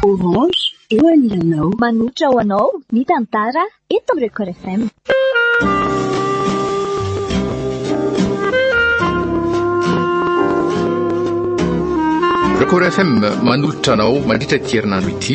Orange eo anilanao. Manohitra ho anao ny tantara eto amin'ny Record FM. Record FM manohitra anao mandritra ity herinandro ity.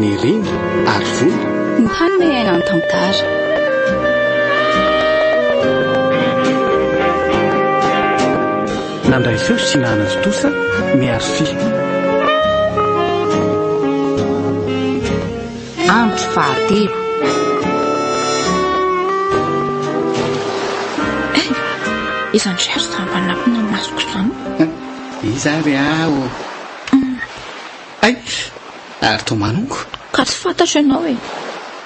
ny reny ary volo. Ny hanome aina ny tantara. Nandray feo sy nanan-tontosa ny Arfy. Andro fahatelo. Eh, iza ndry ary zava-manakona ny masoko izany? Iza ary aho? Hay! Ary toa manongo. Ka tsy fantatro ianao e!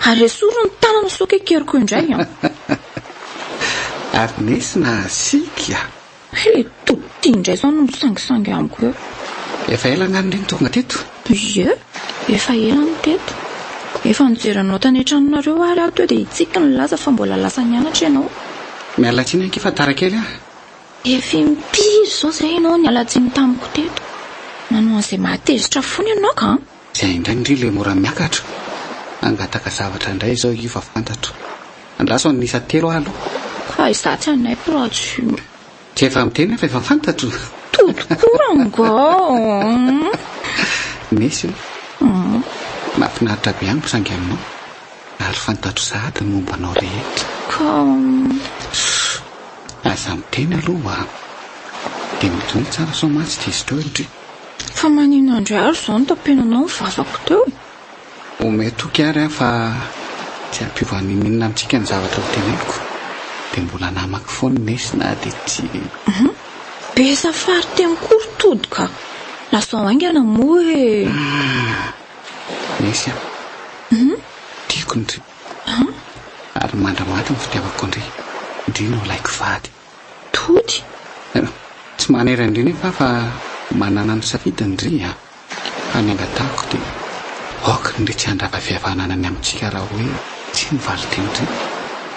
Ary esory ny tanana sao kekeriko indray an! Ary nesy nahasiaka e! Hay le tody ty indray zao no misangisangy amiko eo. Efa ela angano le no tonga teto? Ie, efa ela no teto. Efa nijery anao tany an-tranonareo ary aho teo dia hitsiky nilaza fa mbola lasa nianatra ianao. Miala tsiny ange fa tara kely aho. Efa impiry izao izay ianao niala tsiny tamiko teto? Nanao an'izay mahatezitra foana ianao ka! Izay indray ndry ilay mora miakatra! Hangataka zavatra indray izao io fa fantatro. Andraso an'ny isa telo aho aloha. Fa izaho tsy hanaiky raha tsy io. Tsy efa miteny aho fa efa fantatro! Tody koa rangah! Nesy ô! Mahafinaritra be amiko saingy aminao ary fantatro sahady ny momba anao rehetra. Ka. Aza miteny aloha wa. Dia midonay tsara sao mantsy tsy diso trao indry. Fa maninona indray ary izao notapenanao ny vavako teo e? Omeo toky ary aho fa tsy hampiova n'inon'inona amintsika ny zavatra hoteneniko. Dia mbola namako foana i Nesy na dia tsy. Be safary teny koa ry Tody ka! Lazao haingana moa hoe. Nesy a! Tiako ny. Ary mandra maty ny fitiavako ndry Ndry no laiko fady Tody Tsy manery an-dry nefa aho fa Manana ny safidy ndry a Fa ny angatahako dia Aoka ndry tsy handrava fihavanana ny amintsika Raha hoe tsy ny valin-teny ndry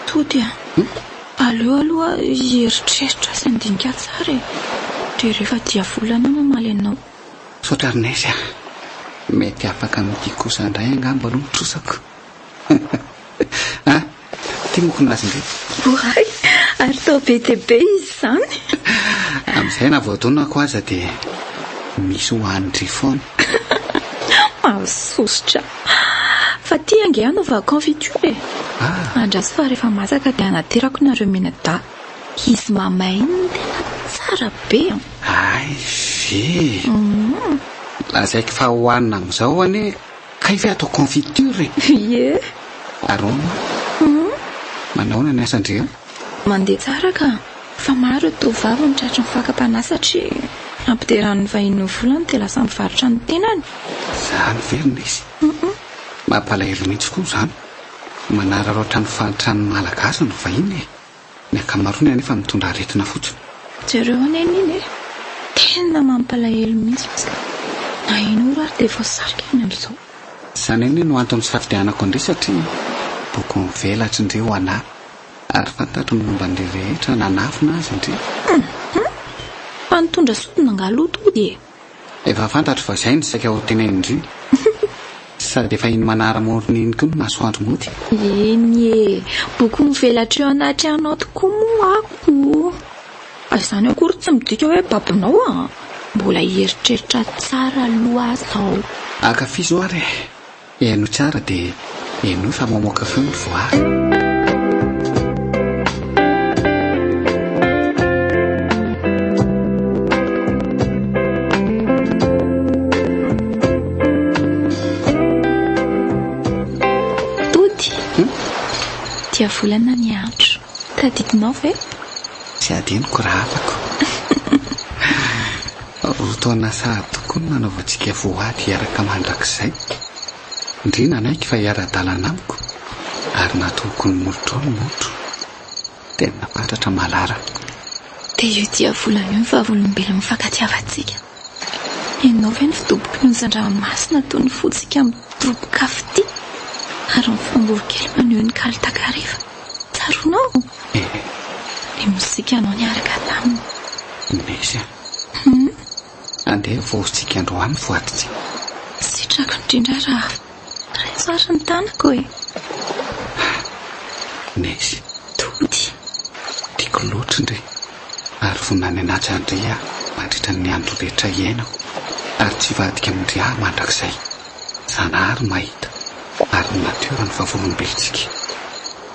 Tody a Aleo aloha hieritreritra sy handinika tsara e Ndry rehefa dia volana aho mamaly anao. Misaotra Rinaizy a! Mety afaka amin'ity kosa indray angamba aloha ny trosako. Ha! Ity mokony azy indray. Oay! Ary tao be dia be izy izany. Amin'izay na vao tonako aza dia misy ho an'dry foana. Mahasosotra. Fa ity ange anaovako confiture e. Ah! Andraso fa rehefa masaka dia hanaterako nareo mianadahy. Izy mamay iny no tena tsara be an! Hay ve! Lazaiko fa hohanina amin'izao anie. Kay ve atao confiture e? Ie. Aroma. Hum. Manaona ny asa ndry a? Mandeha tsara ka. Fa maro ny tovovavy no tratry ny fakam-panahy satria ampideran'ny vahiny ny volany dia lasa mivarotra ny tenany. Izany ve no misy? Hum. Mampalahelo mihitsy koa izany. Manararaotra ny fahantran'ny Malagasy ny vahiny e. Ny ankamaroany anefa mitondra aretina fotsiny. Jereo anie Neny e! Tena mampalahelo mihitsy izy ka! Na in'ora ary dia voasarika any amin'izao. Izany anie no antony nisafidianako an-dry satria boky mivelatry ndry ho anà ary fantatro ny momba an-dry rehetra nanafina azy ndry. Humm! Fa nitondra sodina angaha loto hody e! Efa fantatro fa izay no saika ho tenenin-dry. Sady efa iny manara morony iny koa ny masoandro mody. Eny e! Boky mivelatra eo anatrehanao tokoa moa ako. Fa izany akory tsy midika hoe babonao an! Mbola hieritreritra tsara aloha aho izao. Ankafizo ary e! Heno tsara de henoy fa mamoaka feo ny voary. volana ny andro. Tadidinao ve? Tsy adinoko raha hafako. Roa taona sahady tokoa no nanaovantsika voady hiaraka mandrakizay. Ndry nanaiky fa hiara-dalana amiko ary natohoko ny molotrao ny motro. Tena fatratra Malara. Dia io dia volana io ny vavolombelon'ny mifankatiavantsika. Ianao ve no fidoboky ny ozan-dranomasina toy ny fontsika midoboka afoty ary ny vorongorokely maneho ny kalo takariva? Tsaroanao? Ny mosikanao niaraka taminy. Nisy an. Humm andeha hivoritsiky androany voatitsy. Sitrako indrindra raha raiso ary ny tanako e. Haa nezy. Tody. Tiako loatra ndry ary vonona ny hanaja an-dry aho mandritra ny andro rehetra hiainako ary tsy hivadika amin-dry aho mandrakizay. Zanahary mahita ary ny natiora ny vavolombelontsika.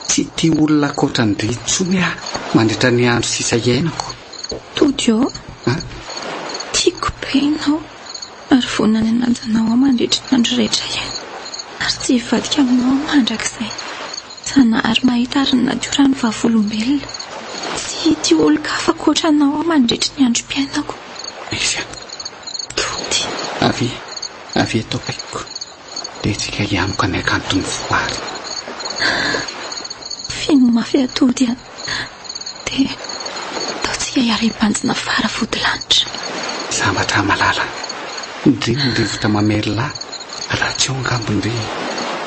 Tsy tia olona ankoatra an-dry intsony aho mandritra ny andro sisa hiainako. Tody ô! Tiako be ianao ary vonona ny hanaja anao aho mandritry ny andro rehetra ihany ary tsy hivadika aminao aho mandrakizay. Zanahary mahita ary ny natiora ny vavolombelona. Tsy hitio olon-kafa ankoatra anao aho mandritry ny androm-piainako. Aiza? Tody. Avy, avy eto akaikiko dia tsika hianoka ny hakanton'ny voary. Feno mafy aho Tody a! Dia ataontsika hiara-hibanjina fara vodilanitra. Sambatra malala. Ndrii ny rivotra mamerlà raha tsy eo angamba ndry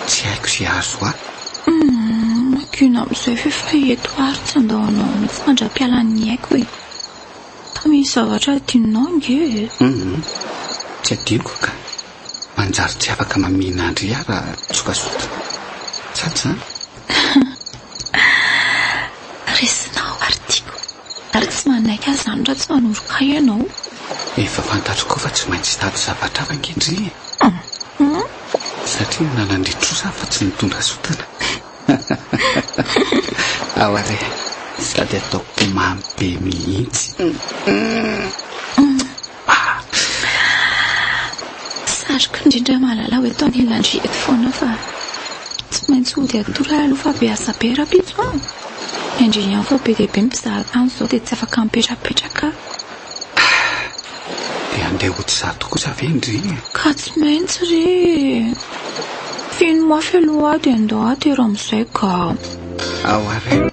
tsy haiko ze azo ahy. Humm makiona amizay ve fa eto ary tsy andao anao mitsy mandra-pialan'ny aiko e. Tamy ny zavatra adinonao nge e. Humm tsy adinoko ka. Manjary tsy afaka mamihina an-dry ahy raha tsotra sotona. Tsara izany? Resinao ary tiako. Ary tsy manaiky an'izany raha tsy manoroka ahy ianao. Efa fantatro koa fa tsy maintsy hitady zavatra hafa ange-dry e! Hum! Satria ny lalan-dry trosa aho fa tsy mitondra sotona. Ao ary e! Sady ataoko mamy be mihitsy. Hum! Sariko indrindra malala hoe tao anilan'dry eto foana fa tsy maintsy hody atoro ahy aloha fa be asa be rahampitso an! Indry ihany fa be dia be ny mpizaharo tany izao dia tsy afaka mipetrapetraka aho. Dia handeha hody izato kosa ve indry e? Ka tsy maintsy re e! Feno mafy aloha aho dia andao aho atero amin'izay ka. ao arin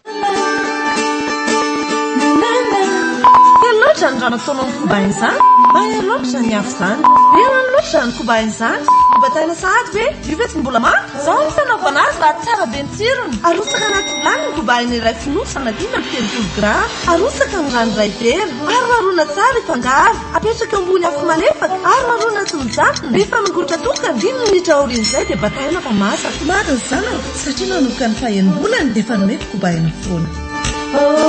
Kely loatra ny raha nataonao ny koba izany Mahery loatra ny afo izany Be rano loatra ny koba izany Nobataina sahady ve? Io ve tsy mbola manta? Izao ny fanaovana azy raha tsara be ny tsirony Arotsaka anaty vilany ny koba eny iray fonosy Anadiana ny telopolo grama Arotsaka ny rano iray vera Ary marona tsara i fangaro Apetraka ambony afo malefaka Ary marona tsy mijanona Rehefa mangotra tokana Dimy minitra aorian'izay dia bataina fa masaka Madin zanako Satria nanomboka ny fahenim-bolany dia efa nomeko kobahina foana. Hoe!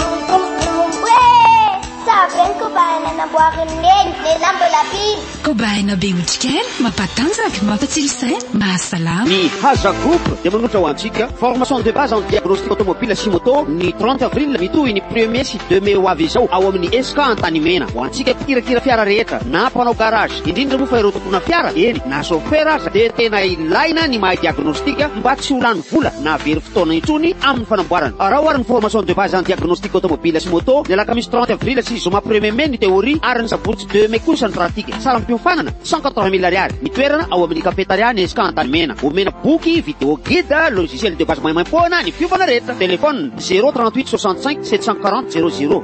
Sary be ny kobahina namboarin'i Neny, lehilahy mbola mpino. Kobahina be otrikaina, mampatanjaka, mampatsilo saina, mahasalama. Ny Haja Group dia manolotra ho antsika Formation de base en diagnostic automobile sy moto ny trente avril mitohy ny premier sy deux mai ho avy izao ao amin'ny ESCA Antanimena. Ho antsika mpikirakira fiara rehetra na mpanao garage. indrindra moa fa ireo tompona fiara, eny na chauffeur aza dia tena ilaina ny mahay diagnostic mba tsy ho lany vola na very fotoana intsony amin'ny fanamboarana. Araho ary ny formation de base en diagnostic automobile sy moto, ny alakamisy trente avril sy zoma premier mai ny théorie ary ny sabotsy deux mai kosa ny pratique. Saram-piofanana, cent quatre-vingt mille ariary. Ny toerana, ao amin'ny cafetaria Nesca Antanimena. Omena boky, vidéo guide, logiciel de base maimaim-poana ny fiovana rehetra. Téléphone, zéro trente-huit soixante-cinq sept cent quarante zéro zéro.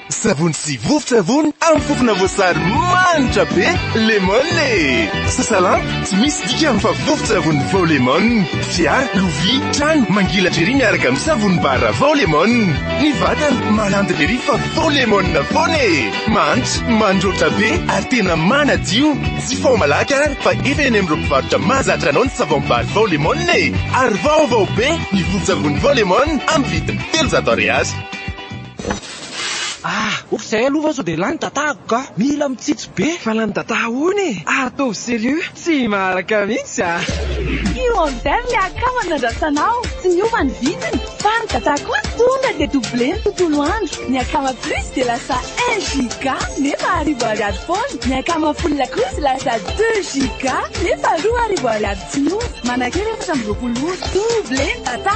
Savony sy vovon-tsavony amin'ny fofona voasary manitra be Lemon e! Sasalampy, tsy misy dikany fa vovon-tsavony vao Lemon. Fiara, lovia, trano, mangilatra ery miaraka amin'ny savony bara vao Lemon. Ny vatana, malandy ery fa vao Lemon foana e! Mahantra, mandroatra be ary tena manadio. Jifaho malaky ary fa efa eny amin'ireo mpivarotra mahazatra anao ny savon bara vao Lemon e! Ary vaovao be ny vovon-tsavony vao Lemon amin'ny vidiny telonjato ariary. Ah! Ouf zay aloha va sao dia lany dadako ka! Mila mitsitsy be! Fa lany dada ahoana e! Ary toa serieux! Tsy maharaka mihitsy ah! Tsy order le akama nandrasana aho, tsy niova ny vidiny, fa ny dada kosa tonga dia double ny tontolo andro, ny akama plus dia lasa un giga nefa arivo ariary foana, ny akama full kosa lasa deux giga nefa roa arivo ariary tsy niova, manakera efatra amby roapolo ora, double ny data!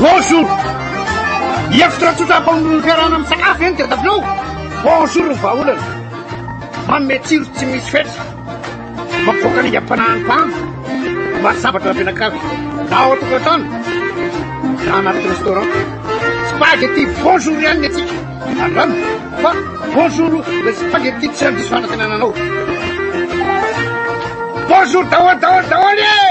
Bonjour! Hevitra tsotra hampamono ny fiarahana misakafo ve no tadiavinao? Bonjour ny vahaolana! Manome tsiro tsy misy fetra, mampivoaka ny aingam-panahin'ny mpandro, maro sabatra ampianakavy, na ao an-tokantrano, na anaty restaurant. Spaghetti bonjour ihany ny antsika, andramo fa bonjour ilay spaghetti tsy handiso fanantenana anao. Bonjour daholo daholo daholo e!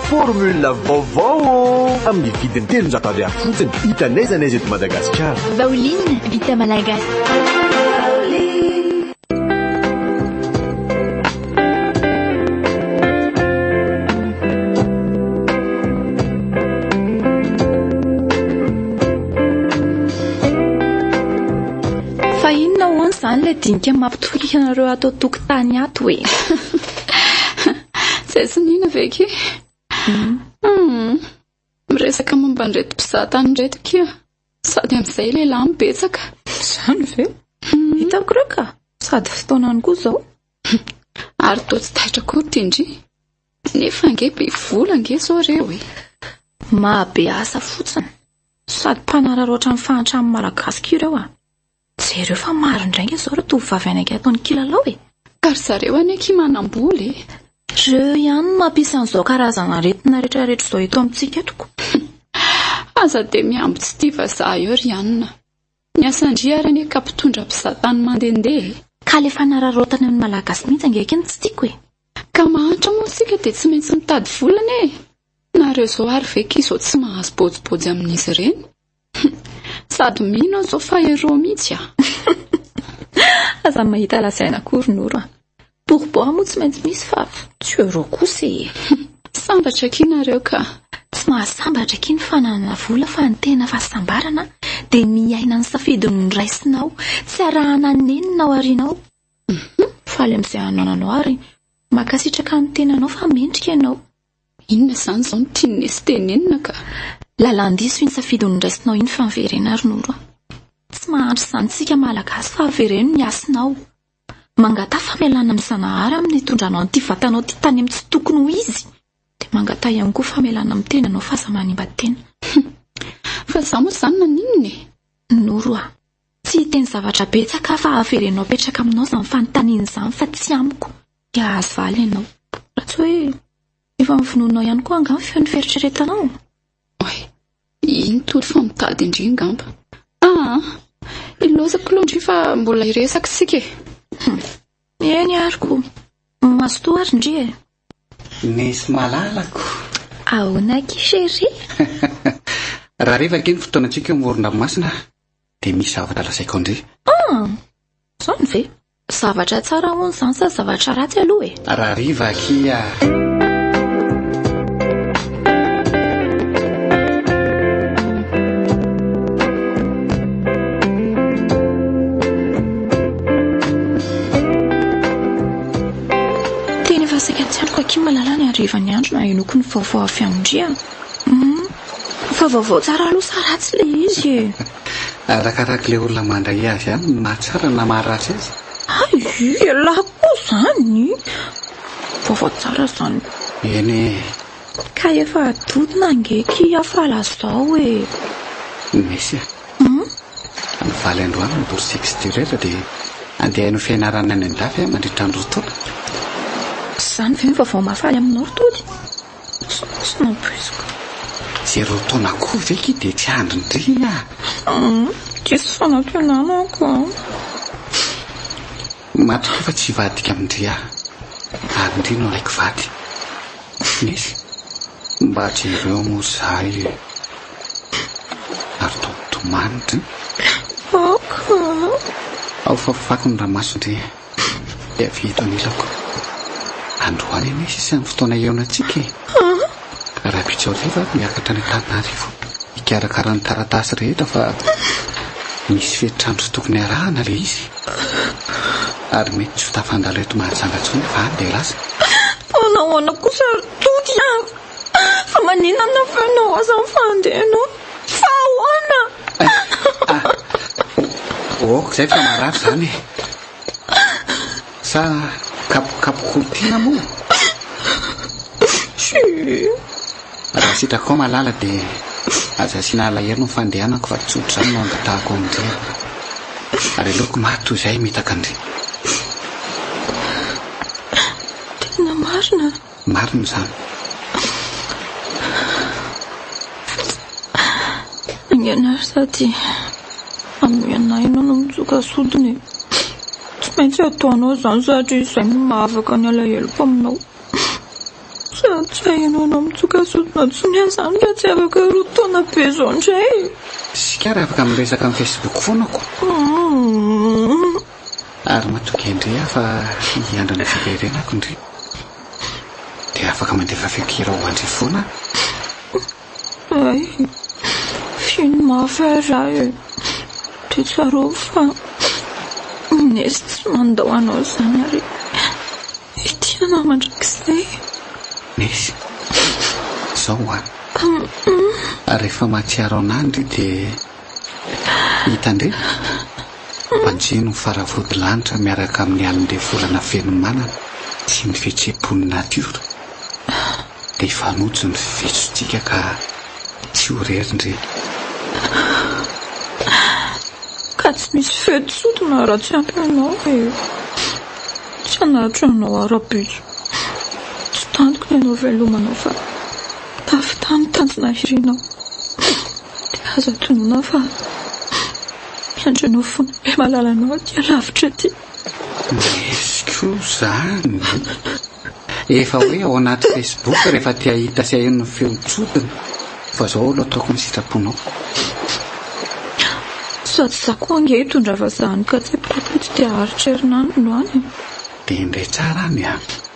Formule vaovao ô! Amin'ny vidiny telonjato ariary fotsiny, hita n'aiza n'aiza eto Madagasikara. Vaoline vita malagasy. Fa inona hoan zany ilay dinika mampitoriaka anareo ato an-tokotany ato e? Zay tsy nina ve ki? Hmm. Hmm. Miresaka momba an'ireto mpizaha tany ireto kia. Sady amin'izay lehilahy mibetsaka. Izany ve? Hmm. Hitako ireo ka. Sady fotoanany koa izao. Ary toa tsy taitra koa tindry. Nefa ange be vola ange izao ireo e. Mahabe asa fotsiny. Sady mpanararaotra ny fahantran'ny malagasy ireo ah. Jereo fa maro indray nge zao ireo tovovavy any ange ataony kilalao e! Ka ry zareo anie akia manam-bola e! Reo ihany no mampisy an'izao karazana aretina rehetra rehetra izao eto amintsika eto ko! Aza dia mihambo tsy tia vazaha eo ry anona! Ny asan-dry ary anie ka mpitondra mpizahatany mandehandeha e! Ka le fanararaotana eo ny malagasy mihitsy ange akia no tsy tiako e! Ka mahantra moa isika dia tsy maintsy mitady vola anie e! Nareo izao ary ve akia izao tsy mahazo bojibojy amin'izy ireny? Sady mino aho zao fa hero mihitsy ah. Aza mahita lazaina akory Noro a. Pour boire moa tsy maintsy misy fa tsy hero kosa e. Sambatra akia nareo ka. Tsy mahasambatra akia ny fananana vola fa ny tena fahasambarana dia ny hiaina ny safidy noraisinao, tsy arahana nenina ao aorianao. Faly amin'izay anananao ary mankasitraka ny tenanao fa mendrika ianao. Inona izany izao no tian'i Nessy tenenina ka? Lalan-diso iny safidy noraisinao iny fa miverena ary Noro a! Tsy mahantra izany isika Malagasy fa avereno ny hasinao. Mangataha famelana amin'i Zanahary amin'ny nitondranao an'ity vatanao ity tany amin'ny tsy tokony ho izy. Dia mangataha ihany koa famelana amin'ny tenanao fa aza manimba tena. Humm! Fa izaho moa izany naninona e? Noro a! Tsy hiteny zavatra betsaka aho fa avereno apetraka aminao izany fanontaniana izany fa tsy amiko. Dia hahazo valy ianao. Raha tsy hoe efa novonoinao ihany koa angaha ny feon'ny fieritreretanao? Oay, iny tory fa mitady indry angamba. Aa, ilozako aloha indry fa mbola hiresaka isika e. Hmm. Eny ary ko, mazotoa ary indry e. Nisy malalako. Ahoana ki chérie? Raha rehefa ake ny fotoanantsika eo amoron-dranomasina dia misy zavatra lazaiko indry. Ah, izany ve? Zavatra tsara hono izany sa zavatra ratsy aloha e? Rahariva aky ah! Tena efa saika tsy andriko aky malala ny harivan'ny andro no hahenoako ny vaovao avy amin-dry an! Humm, fa vaovao tsara aloha sa ratsy ilay izy e? Arakarak'ilay olona mandray azy ihany ny maha tsara na maha ratsy azy. Hay elah koa izany! Vaovao tsara izany. Eny e! Ka efa adodona ange ki aho fa lazao e! Nessy a! Humm? Mivaly androany ny bourse extérieure dia andeha haino fianarana any an-dafy aho mandritra ny roa taona. Izany ve ny vaovao mahafaly aminao ry Tody? Tsy nampoiziko. Zéro taona koa ve ki dia tsy handrindrina? Diso fanantenana ako an! Matokia fa tsy hivadika amin-dry aho ary ndry no alaiky vady. Nesy, mba jereo moa izaho e! Ary tomany ndry. Aka. Ao fafafako ny ramaso ndry e! Dia avy eto anilako. Androany anie sisa ny fotoana hihaonantsika e. Rabijoliva ary miakatra any Antananarivo hikarakara ny taratasy rehetra fa misy fetr'andro tokony harahana ilay izy. Ary mety tsy ho tafandalo eto Mahajanga intsony fa any dia lasa. Fa nahoana kosa ry Toky a? Fa maninona no feonao aza fa handeha ianao? Fa ahoana? Ôk, izay fa marary izany e. Sa kapokapoko ho tiana moa? Raha sitraka ao malala dia aza asiana alahelo ny fandehanako fa tsotra izany no angatahako amin-dry e. Ary aleoko maty toy izay mitaka an-dry. Tena marina. Marina izany. Aingana ry Sati, amin'ny anay ianao no mitsoka sodina e. Tsy maintsy ataonao izany satria izay no mahavaka ny alaheloko aminao. Sady tsy hainao ianao mitsoka sodina tsy miasa izany ka tsy afaka roa taona be izao indray e. Isika ary afaka miresaka amin'ny Facebook foana ko. Ary matokia ndry aho fa hiandry ny fiverenako ndry. Dia afaka mandefa feon-kira ho andry foana aho. Ay, feno mafy aho ra e. Dia tsarovy fa Nesy tsy mandao anao zany ary hitia anao mandrakizay. Nesy, zao ho'a. Ary rehefa mahatsiaro anah ndry dia. Hitandremo? Banjino ny faravodilanitra miaraka amin'ny alin'ilay volana feno manana sy ny fihetseham-pon'ny natiora. Dia hifanojo ny fihetsontsika ka tsy ho irery ndry. Ka tsy misy feo tsodina raha tsy ampy anao e. Tsy hanatitra anao aho rahampitso. Tsy tantiko ny hanao veloma anao fa tafita ny tanjona hirinao. Dia aza atonona fa miandry anao foana be malala anao aty alavitra aty. Yezy ko zany. Efa hoe ao anaty Facebook rehefa te ahita sy aheno ny feo tsodina fa zao alo ataoko ny sitraponao. Sady za koa ange hitondra vazaha any Katsepole aty dia aritrerin any no any. Dia indray tsara any an.